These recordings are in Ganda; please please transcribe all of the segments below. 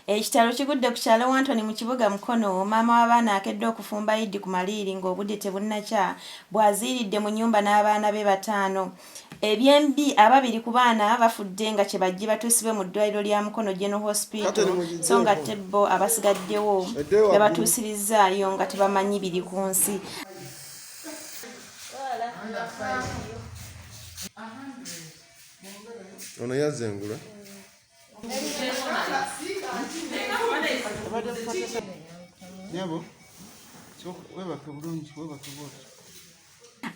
Ekitalo kigudde ku kyalo Wantoni mu kibuga Mukono, maama w'abaana akedde okufumba Iddi ku maliiri ng'obudde tebunnakya bw'aziiridde mu nnyumba n'abaana be bataano. Ebyembi, ababiri ku baana bafudde nga kye bajje batuusibwe mu ddwaaliro lya Mukono General Hospital so ng'ate bo abasigaddewo babatuusirizzaayo nga tebamanyi biri ku nsi. Ono yazze engule.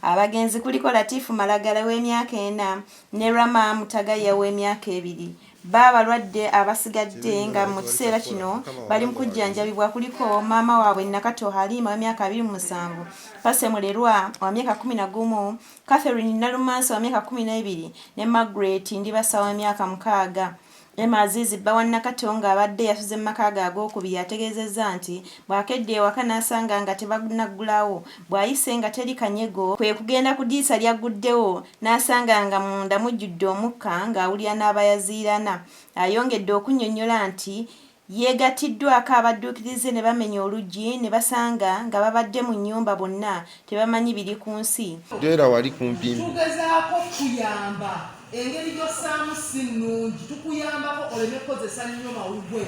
abagenzi kuliko latifu malagala w'emyaka ena ne rama mutagaya w'emyaka ebiri ba abalwadde abasigadde nga mu kiseera kino bali mu kujjanjabibwa kuliko maama waabwe nakato haliima w'emyaka abiri mu musanvu pase mulerwa wa myaka kumi na gumu Catherine Nalumansi wa myaka kumi n'ebiri ne Margaret Ndibasa wa myaka mukaaga. Emma Azizi bba wa Nakato ng'abadde yasuze mu maka ge ag'okubiri yategeezezza nti bw'akedde ewaka n'asanga nga tebanaggulawo bw'ayise nga teri kanyego kwe kugenda ku ddirisa lyagguddewo n'asanga nga munda mujjudde omukka ng'awulira n'abayaziirana. Ayongedde okunnyonnyola nti Yeegattiddwaako abadduukirize ne bamenya oluggi ne basanga nga babadde mu nnyumba bonna tebamanyi biri ku nsi. Beera wali kumpi mbu. Tugezaako okukuyamba. Engeri gy'ossaamu si nnungi. Tukuyambako oleme kukozesa nnyo mawugwe.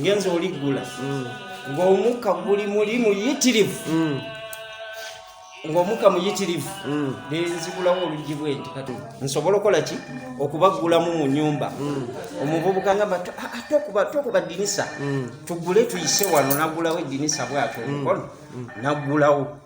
Ngenze oliggula ng'omukka guli muli muyitirivu. ng'omuka muyitirivu mm. ne nzigulawo oluggi bwe nti kati nsobola okukola ki okubaggulamu mu nyumba mm. omuvubuka nga ba ah, ah, tokuba ddinisa mm. tugule tuyise wano nagulawo eddinisa bwatyo omukono nagulawo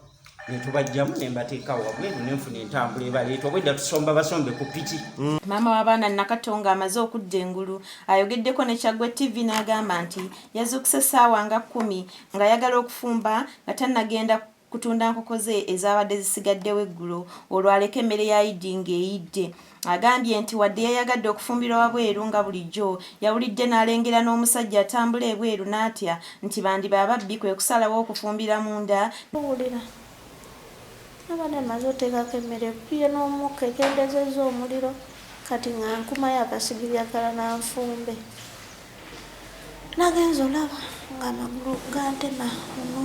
netubajjamu nembateekawo wabweru nenfuna entambula ebaleeta obwedda tusomba basombe ku piki mm. maama w'abaana nakatonga amaze okudda engulu ayogeddeko ne kyaggwe tv n'agamba nti yazuukuse essaawa nga kkumi ng'ayagala okufumba nga tannagenda kutunda nkoko ze ezaabadde zisigaddewo eggulo olwo aleke emmere ya Idi ng'eyidde. Agambye nti wadde yayagadde okufumbirwa wabweru nga bulijjo, yawulidde n'alengera n'omusajja atambula ebweru n'atya nti bandiba ababbi kwe kusalawo okufumbira munda ne. Wulira. Nabadde mmaze oteekako emmere ebbye n'omukka ekendezezza omuliro kati nga nkumayo akasigiri akalala nfumbe. Nagenze olaba ng'amagulu gantema luno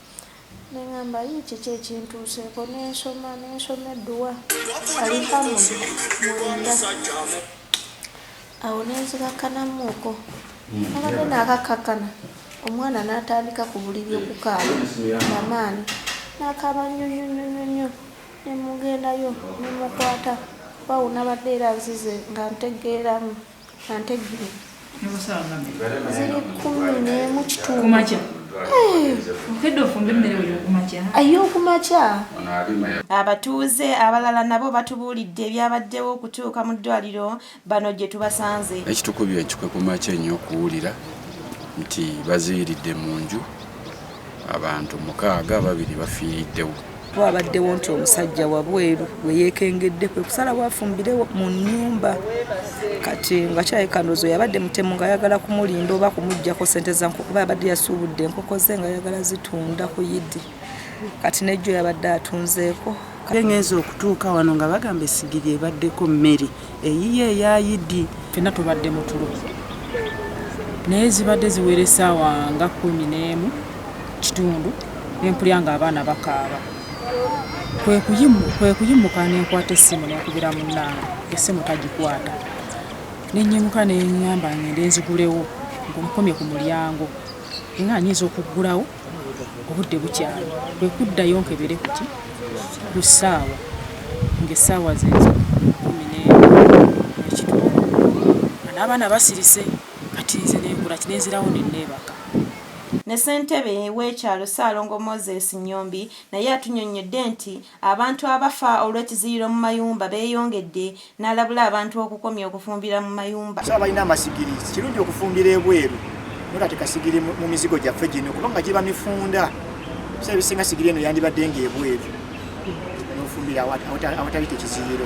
Ne ŋŋamba, Yii, kiki ekintuuseeko? Ne nsoma, ne nsoma edduwa, Alihamudu, mwenda. Awo ne nzikakkanamuuko. Nabadde naakakkakkana, omwana n'atandika ku buliri okukaaba na maanyi. N'akaaba nnyo nnyo nnyo nnyo nnyo. Ne mmugendayo, ne mmukwata, oba awonabadde era nzize nga ntegeeramu. Ante ggiri ziri kkumi n'emu kitundu ay'okumakya abatuuze abalala nabo batubuulidde ebyabaddewo okutuuka mu ddwaliro bano gye tubasanze ekitukubye ekikwe kumakya ennyo okuwulira nti baziyiridde mu nju Abantu mukaaga ababiri bafiiriddewo. Wabaddewo nti omusajja wabweru we yeekengedde kwe kusalawo afumbire mu nnyumba kati nga kirabika ndowooza yabadde mutemu ng'ayagala kumulinda oba kumuggyako ssente za nkoko kuba yabadde yasuubudde enkoko ze nga yagala zitunda ku yidi kati n'ejjo yabadde atunzeeko. Ngenze okutuuka wano nga bagamba essigiri ebaddeko mmere. Eyiye eya Idi fena tubadde mutulo naye zibadde ziwera esaawa nga kumi n'emu kitundu nempulya nga abaana bakaaba kwekuyimuka nenkwata essimu nenkubira munange essimu tagikwata nenyimuka nenyamba ngende nzigulewo nkomye ku mulyango nga nyinza okuggulawo obudde bukyali kwe kuddayo nkebere kuti ku ssaawa ng'essaawa zezo kumi n'ekitundu n'abaana basirise kati nze nengula kinenzirawo ne neebaka Ne ssentebe w'ekyalo Ssaalongo Moses Nyombi naye atunyonnyodde nti Abantu abafa olw'ekiziyiro mu mayumba beeyongedde n'alabula abantu okukomya okufumbira mu mayumba. Tusaba abalina amasigiri kirungi okufumbira ebweru naye kati kasigiri mu mizigo gyaffe gino kubanga giba mifunda so ebisinga sigiri eno yandibadde ng'ebweru n'ofumbira awatali tekiziyiro.